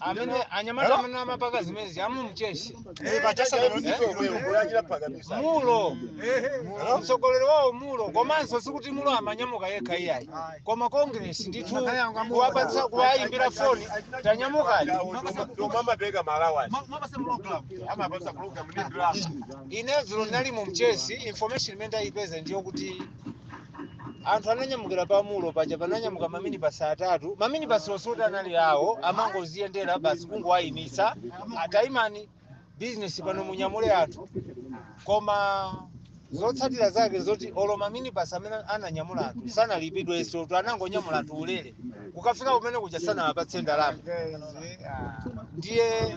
amene anyamata amene amapaka zimezi amu Mchesi Mulo mtsogoleri wawo mulo komanso sikuti mulo amanyamuka yekha iyayi koma congress ndithu kuwapatsa kuwayimbira foni tanyamukani amapereka malangizo amawapasa program ndi ndalama ine dzulo ndinali mu mchesi information imene ndayipeza ndiyo kuti anthu ananyamukira pa mulo paja pananyamuka maminibasi atatu maminibasi oti anali awo amangoziyendera basi kungowayimitsa atayimani bizinesi pano munyamule anthu koma zotsatira zake zoti olo maminibasi amene ananyamula anthu sanalipidwenso tu anangonyamula anthu ulere kukafika kumene kuja sanawapatse ndalama ndiye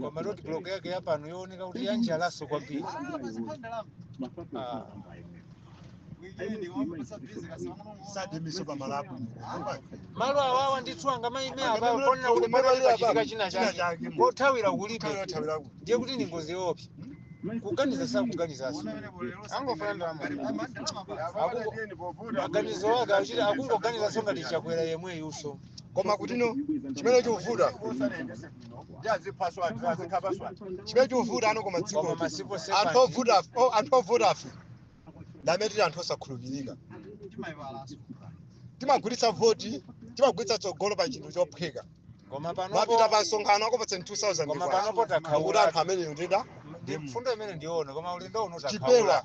koma road block yake yapano yooneka kuti yanyanyaso kwambiri Ah. sademiso pamalapo malo awawa ndithu angamaime apapo ponena kuti pali pachitika china chake kothawira kulibe ndiye kuti ndi ngozi yoopsa kuganiza sakuganizaso angofuna ndalama Akuko- maganizo ake achita akungoganizaso ngati chakwera yemweyuso koma kutino chimene chikuvuta ndi aziphaso anthu azikhapaso anthu chimene chikuvuta ano koma dziko anthu ovuta o- anthu ovuta ife ndamene tili anthu osakhulupirika timagulitsa voti timagulitsa tsogolo pa chinthu chophweka kumapita panopo pa msonkhano akupatsa 2000 kwacha. panopo Kuti anthu takhaula ameneyo ndida ndi mfundo imene ndiona koma ulendo uno takhaula chipewa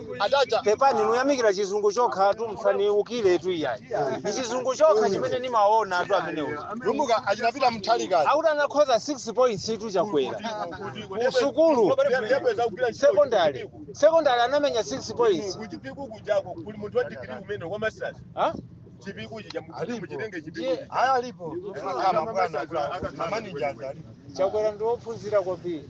Achacha. pepani mukuyamikira chizungu chokha tu musandiukire tu iyayi ndi chizungu chokha chimene ndimaona tu amenewo Lumbuka achinapita mthalika. akuti anakhoza 6 points tu chakwera ku sukulu sekondari sekondari anamenya 6 points Kuchipiku kujako kuli munthu wa degree umene wa masters. Ha? Chipiku chija muchitenge chipiku. Ndiye- Aya alipo. Ngati bwana. A manager. chakwera ndi wophunzira kwambiri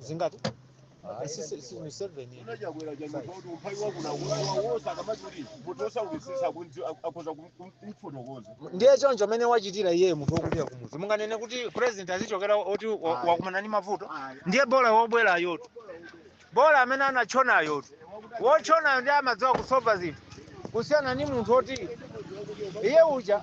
zingati Ah, si- si- si- Museveni. wina chakwera chanyumba kuti umphawi wakuno wose akamati kuti munthu osaukisisa akhoza kumfotokoza ndiye choncho mmene wachitira iye munthu wokulira kumudzi munganene kuti president azichokera oti wa- Ayi. wakumana ndi mavuto ndiye bola wobwerayotu bola amene anatchonayotu wotchonayo ndiye amadziwa kusova zinthu kusiyana ndi munthu woti iye uja